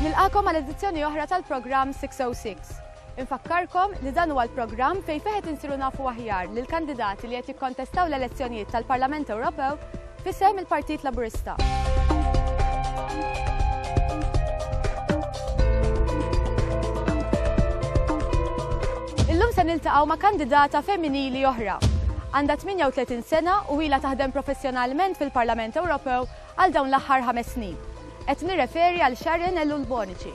Nilqakom għal edizzjoni oħra tal-programm 606. Infakkarkom li dan huwa l-programm fejn feħet insiru nafu aħjar lil kandidati li qed jikkontestaw l-elezzjonijiet tal-Parlament Ewropew F'isem il-Partit Laburista. Illum se niltaqgħu ma' kandidata femminili oħra. Għandha 38 sena u ilha taħdem professjonalment fil-Parlament Ewropew għal dawn l-aħħar ħames snin. Qed nirreferi għal Sharon Ellul Bonici.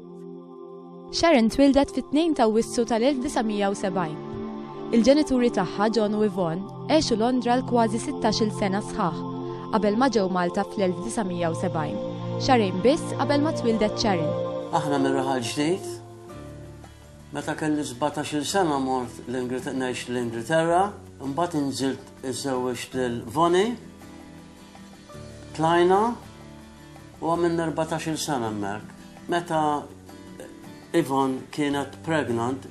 Sharon twildet fit-2 ta' Awwissu tal-1970. Il-ġenituri tagħha, John u Yvonne, għexu Londra għal kważi sittax-il sena sħaħ qabel ma ġew Malta fl-1970, xahrejn biss qabel ma twildet Sharon. Aħna mir-Raħal Ġdid. Meta kelli sbatax-il sena mort ngħix l-Ingilterra, imbagħad inżilt iżżewwiġt lil Vonnie. Tlajna. Huwa minn erbatax-il sena hemmhekk. Meta Yvonne kienet pregnant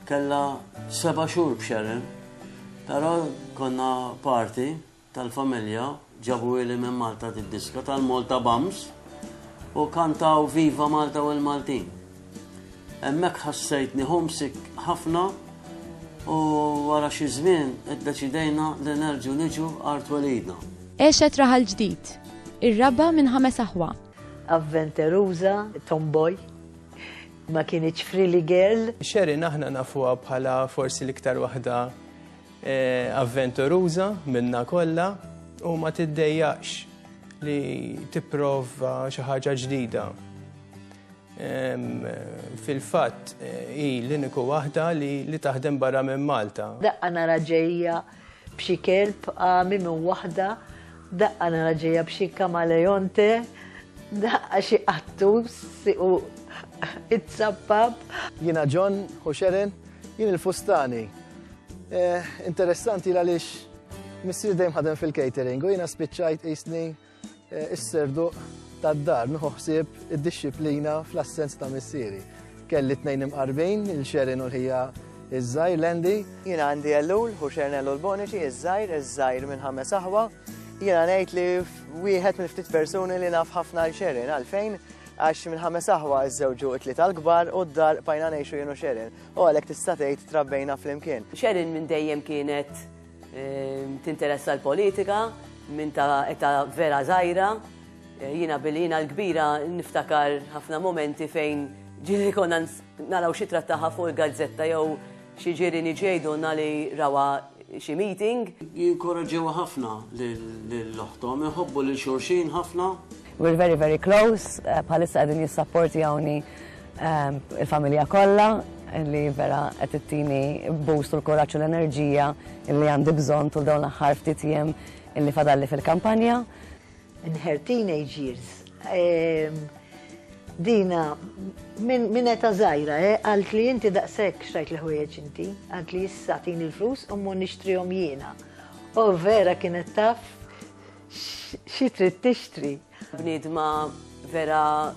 kellha seba' xhur b'Sharon, però konna party tal-familja ġabuhieli minn Malta d-diska tal-Malta Bums u kantaw Viva Malta u l-Maltin. Hemmhekk ħassejtni homesick ħafna u wara xi żmien iddeċidejna li nerġgħu niġu għar twelidna. Għexet raħal ġdid, ir-raba' minn ħames aħwa. Avventeruża, tomboy, ma kinitx frilly girl. Sherin aħna nafuha bħala forsi l-iktar waħda avventuruża minna kollha u ma tiddejjaqx li tipprova xi ħaġa ġdida. Fil-fatt hi l-iniku waħda li taħdem barra minn Malta. Daqqa nara ġejja b'xi kelb għami minn waħda, daqqa nara ġejja b'xi kamaleonte, daqqa xi qattus u it-sappab. Jiena John u Sharon, jien il-fustani. Eh, interessanti għaliex missir dejjem ħadem fil-catering u jiena spiċċajt isni Is-serduq tad-dar nieħu ħsieb id-dixxiplina fl-assenz ta' missieri. Kelli tnejn imqarbin, il-Xerin u l-ħija iż-żgħir Lendi. Jiena għandi Ellul, hu Xernel u l-Boniċi, iż-żgħir, iż-żgħir minn ħames aħwa. Jiena ngħid li wieħed minn ftit persuni li naf ħafna għal Xerin għalfejn għax minn ħames aħwa iż-żewġu it-tliet għal-kbar u d-dar pajna ngħixu jienu Xerin. U għalhekk tista' tgħid trabbejna flimkien. Xerin minn dejjem kienet Tinteressa l-politika minn ta' età vera żgħira. Jiena billi jiena l-kbira niftakar ħafna mumenti fejn ġieli konna naraw xi trattaha fuq il-gazzetta jew xi ġierieni ġie jgħidulna li rawha xi meeting. Jinkoraġġewha ħafna lil oħthom, iħobbu lil xulxin ħafna We're very very close, bħalissa qegħdin jissapportjawni il-familja kollha li vera qed ittini boost u l-kuraġġ u l-enerġija li għandi bżonn tul dawn l-aħħar ftit jiem illi fadalli fil-kampanja. In her teenage years, Dina, minn eta zaħira, eh, għalt li jinti daqsek xtajt li ħwejġ inti, għalt li jissatin il-flus u mun nishtrihom jiena. U vera kienet taf Xi trid tixtri? Bniedma vera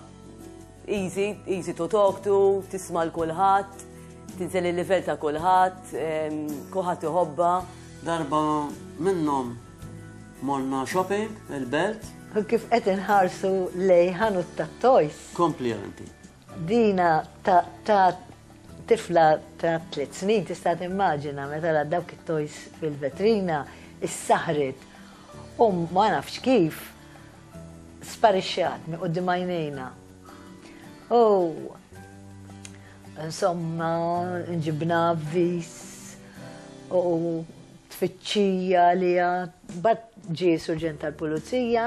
easy, easy to talk to, tisma' l kulħadd, tinżel il-livell ta' kulħadd, kulħadd iħobba. Darba minnhom morna shopping il-belt. Kif qed inħarsu lej ħanut ta' toys. Kompli anti. Dina ta' ta' tifla ta' tliet snin tista' timmaġina meta ra dawk it-toys fil-vetrina issaħħret u ma nafx kif sparixxat minn quddiem għajnejna. U insomma nġibna avviż u tfittxija li għad ġie surġent tal-pulizija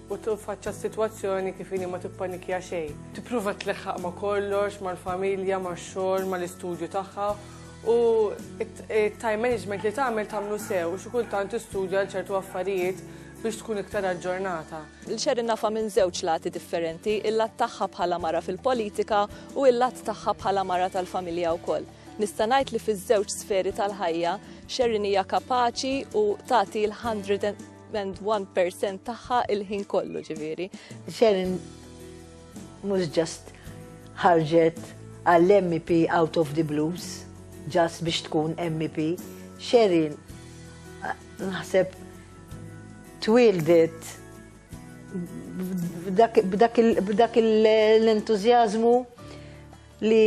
u tinfaċċa s-sitwazzjoni kif inhi ma tippanikja xejn. Tipprova tleħħaq ma' kollox, mal-familja, max-xogħol, mal-istudju tagħha u t-time management li tagħmel tagħmlu sew xi kultant tistudja għal ċertu affarijiet biex tkun iktar aġġornata. L-xerin nafa minn żewġ lati differenti, il-lat tagħha bħala mara fil-politika u il-lat tagħha bħala mara tal-familja wkoll. Nista' ngħid li fiż-żewġ sferi tal-ħajja, xerin hija kapaċi u tagħti l-100 and 1% tagħha il-ħin kollu ġifieri. Sharon mhux ġast ħarġet għall-MEP out of the blues, ġast biex tkun MEP. Sharon naħseb twildet b'dak l-entużjażmu li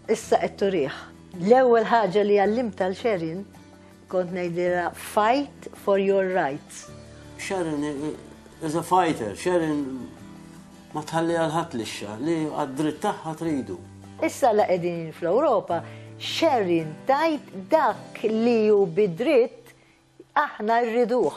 issa qed turih. L-ewwel ħaġa li għallimt tal Sharon Kont ngħidilha fight for your rights. Sharon is a fighter, Sharon ma tħalli għal-ħadd lixxa li għad-dritt tagħha tridu. Issa la qegħdin fl-Ewropa, Sharon tajt dak li hu bidritt aħna rriduh.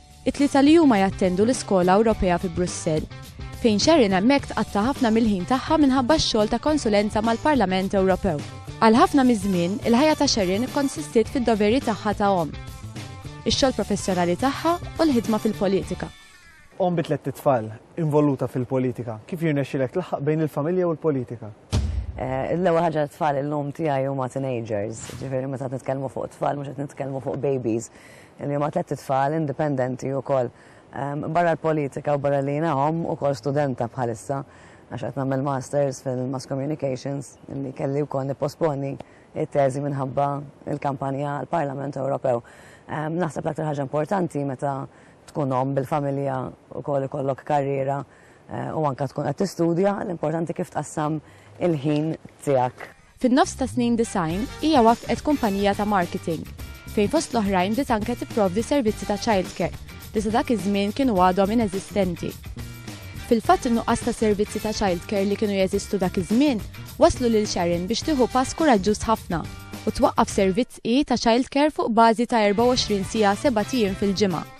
It-tlieta li huma jattendu l-Iskola Ewropea fi Brussell, fejn Sharon hemmhekk tqatta' ħafna mill-ħin tagħha minħabba x-xogħol ta' konsulenza mal-Parlament Ewropew. Għal ħafna miż-żmien, il-ħajja ta' Sharon ikkonsistiet fid-doveri tagħha ta' omm, ix-xogħol professjonali tagħha u l-ħidma fil-politika. Omm bi tlett itfal, involuta fil-politika, kif jirnexxilek tlaħħaq bejn il-familja u l-politika? L-ewwel ħaġa t-tfal illum tiegħi huma teenagers, jiġifieri meta qed nitkellmu fuq tfal mhux qed nitkellmu fuq babies. li huma tlett itfal indipendenti wkoll. Barra l-politika u barra li jiena omm, ukoll studenta bħalissa għax qed nagħmel masters fil-mass communications li kelli wkoll nipposponi t-teżi minħabba l-kampanja għall-Parlament Ewropew. Naħseb l-aktar ħaġa importanti meta tkun omm bil-familja wkoll ikollok karriera u anke tkun qed tistudja, l-importanti kif tqassam il-ħin tiegħek. Fin-nofs tas-snin disgħin, hija waffqet kumpanija ta' marketing, fejn fost l-oħrajn bdiet anke tipprovdi servizzi ta' childcare li sa dak iż-żmien kienu għadhom ineżistenti. Fil-fatt in-nuqqas ta' servizzi ta' childcare li kienu jeżistu dak iż-żmien wasslu lil Sharon biex tieħu pass kuraġġuż ħafna u twaqqaf servizz hi ta' childcare fuq bażi ta' 24 siegħa sebat ijiem fil-ġimgħa.